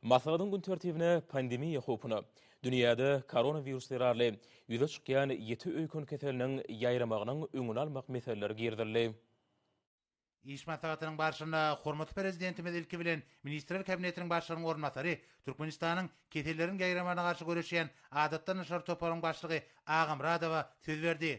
Maslahatyň gün tertibine pandemiýa howpuna, dünýäde koronawirus zerarly ýüze çykýan ýiti öýken keseliniň ýaýramagynyň öňüni almak meseleleri girizildi. Iş maslahatynyň barşynda hormatly Prezidentimiz ilki bilen Ministrler Kabinetiniň Başlygynyň orunbasary, Türkmenistanyň Keselleriň ýaýramagyna garşy göreşýän adatdan daşary toparynyň başlygy Agamyradowa söz berdi.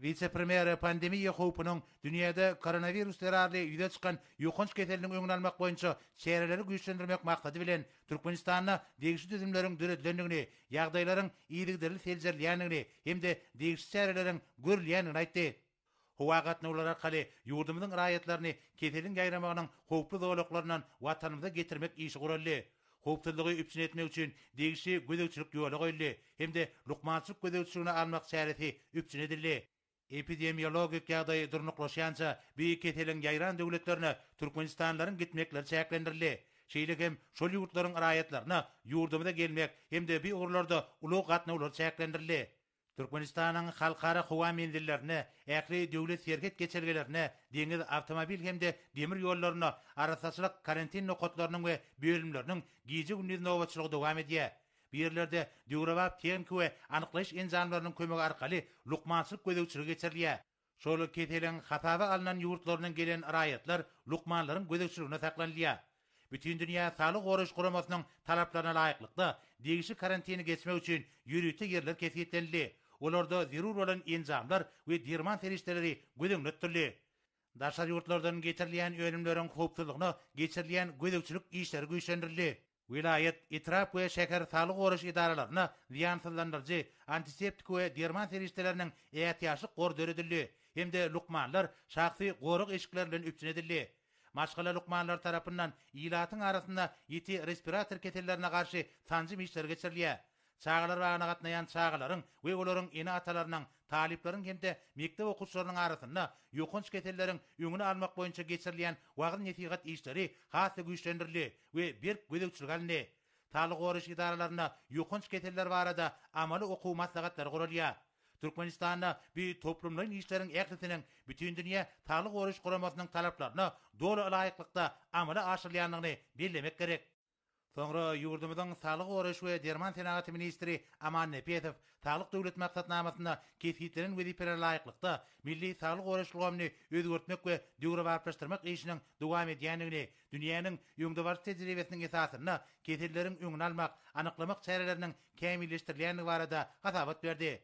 Wise-premýere pandemiýa howpunyň, dünýäde koronawirus zerarly ýüze çykan ýokanç keseliniň öňüni almak boýunça çäreleri güýçlendirmek maksady bilen, Türkmenistanda degişli düzümleriň döredilendigini, ýagdaýlaryň yzygiderli seljerilýändigini hem-de degişli çäreleriň görülýändigini aýtdy. Howa gatnawlary arkaly ýurdumyzyň raýatlaryny keseliň ýaýramagynyň howply zolaklaryndan Watanymyza getirmek işi guraldy. Howpsuzlygy üpjün etmek üçin degişli gözegçilik ýola goýuldy hem-de lukmançylyk gözegçiligine almak çäresi üpjün edildi. Epidemiologik ýagdaý durnuklaşýança bu keseliň ýaýran döwletlerine türkmenistanlylaryň gitmekleri çäklendirildi. Şeýle hem şol ýurtlaryň raýatlaryna ýurdumyza gelmek hem-de bu ugurlarda ulag gatnawlary çäklendirildi. Türkmenistanyň halkara howa menzillerine, ähli döwlet serhet geçelgelerine, deňiz, awtomobil hem-de demir ýollaryna arassaçylyk karantin nokatlarynyň we bölümleriniň gije-gündiz nobatçylygy dowam edýär. Bu ýerlerde döwrebap tehniki we anyklaýyş enjamlarynyň kömegi arkaly lukmançylyk gözegçiligi geçirilýär. Şol keseliň hasaba alnan ýurtlaryndan gelen raýatlar lukmanlaryň gözegçiliginde saklanylýar. Bütindünýä Saglygy goraýyş guramasynyň talaplaryna laýyklykda, degişli karantini geçmek üçin ýörite ýerler kesgitlenildi, olarda zerur bolan enjamlar we derman serişdeleri göz öňünde tutuldy. Daşary ýurtlardan getirilýän önümleriň howpsuzlygyna geçirilýän gözegçilik işleri güýçlendirildi. Welaýat, etrap we şäher saglygy goraýyş edaralaryna zyýansyzlandyryjy, antiseptik we derman serişdeleriniň ätiýaçlyk gory döredildi hem-de lukmanlar şahsy gorag eşikleri bilen üpjün edildi. Maşgala lukmanlary tarapyndan ilatyň arasynda ýiti respirator kesellerine garşy sanjym işleri geçirilýär. Çagalar bagyna gatnaýan çagalaryň we olaryň ene-atalarynyň, talyplaryň hem-de mekdep okuwçylarynyň arasynda ýokanç keselleriň öňüni almak boýunça geçirilýän wagyz-nesihat işleri has-da güýçlendirildi we berk gözegçilige alyndy. Saglygy goraýyş edaralarynda ýokanç keseller barada amaly okuw maslahatlary guralýar. Türkmenistanda bu toplumlaýyn işleriň ählisiniň Bütindünýä Saglygy goraýyş guramasynyň talaplaryna doly laýyklykda amala aşyrylýandygyny bellemek gerek. Soňra ýurdumyzyň Saglygy goraýyş we derman senagaty ministri Aman Nepesow Saglyk Döwlet maksatnamasynda kesgitlenen wezipelere laýyklykda, milli saglygy goraýyş ulgamyny özgertmek we döwrebaplaşdyrmak işiniň dowam edýändigini, dünýäniň öňdebaryjy tejribesiniň esasynda keselleriň öňüni almak, anyklamak çäreleriniň kämilleşdirilýändigi barada hasabat berdi.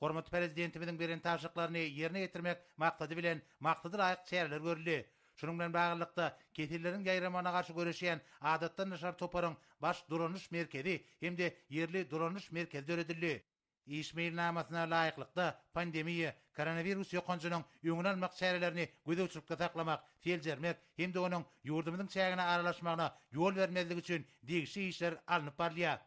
Hormatly Prezidentimiziň beren tabşyryklaryny ýerine ýetirmek maksady bilen maksada laýyk çäreler görüldi. Şunuň bilen baglylykda, keselleriň ýaýramagyna garşy göreşýän Adatdan daşary toparyň Baş dolanyş merkezi hem-de Ýerli dolanyş merkezi döredildi. Iş meýilnamasyna laýyklykda, pandemiýa, koronawirus ýokanjynyň öňüni almak çärelerini gözegçilikde saklamak, seljermek hem-de onuň ýurdumyzyň çägine aralaşmagyna ýol bermezlik üçin degişli işler alnyp barylýar.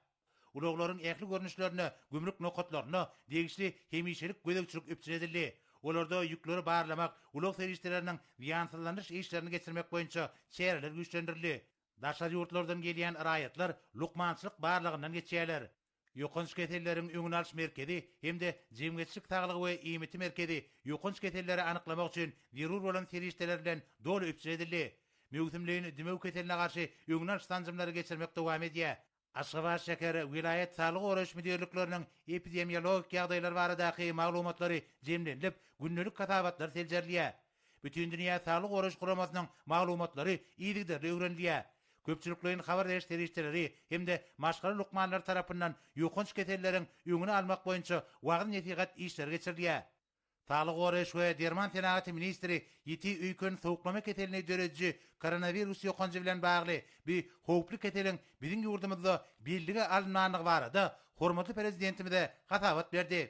Ulaglaryň ähli görnüşlerinde gümrük nokatlarynda degişli hemişelik gözegçilik üpjün edildi. Olarda ýükleri barlamak, ulag serişdeleriniň zyýansyzlandyryş işlerini geçirmek boýunça çäreler güýçlendirildi. Daşary ýurtlardan gelýän raýatlar lukmançylyk barlagyndan geçýärler. Ýokanç keselleriň öňüni alyş merkezi hem-de Jemgyýetçilik saglygy we IMT merkezi ýokanç keselleri anyklamak üçin zerur bolan serişdeler bilen doly üpjün edildi. Möwsümleýin dümew keseline garşy öňüni alyş sanjymlary geçirmek dowam edýär. Aşgabat şäher, welaýat saglygy goraýyş müdirlikleriniň epidemiologik ýagdaýlar baradaky maglumatlary jemlenilip, gündelik hasabatlar seljerilýär. Bütindünýä saglygy goraýyş guramasynyň maglumatlary yzygiderli öwrenilýär. Köpçülikleýin habar beriş serişdeleri hem-de maşgala lukmanlary tarapyndan ýokanç keselleriň öňüni almak boýunça wagyz-nesihat işleri geçirilýär. Saglygy goraýyş we derman senagaty ministri ýiti öýken sowuklama keselini dörediji koronawirus ýokanjy bilen bagly bi howply keseliň biziň ýurdumyzda bellige alynmandygy barada hormatly Prezidentimize hasabat berdi.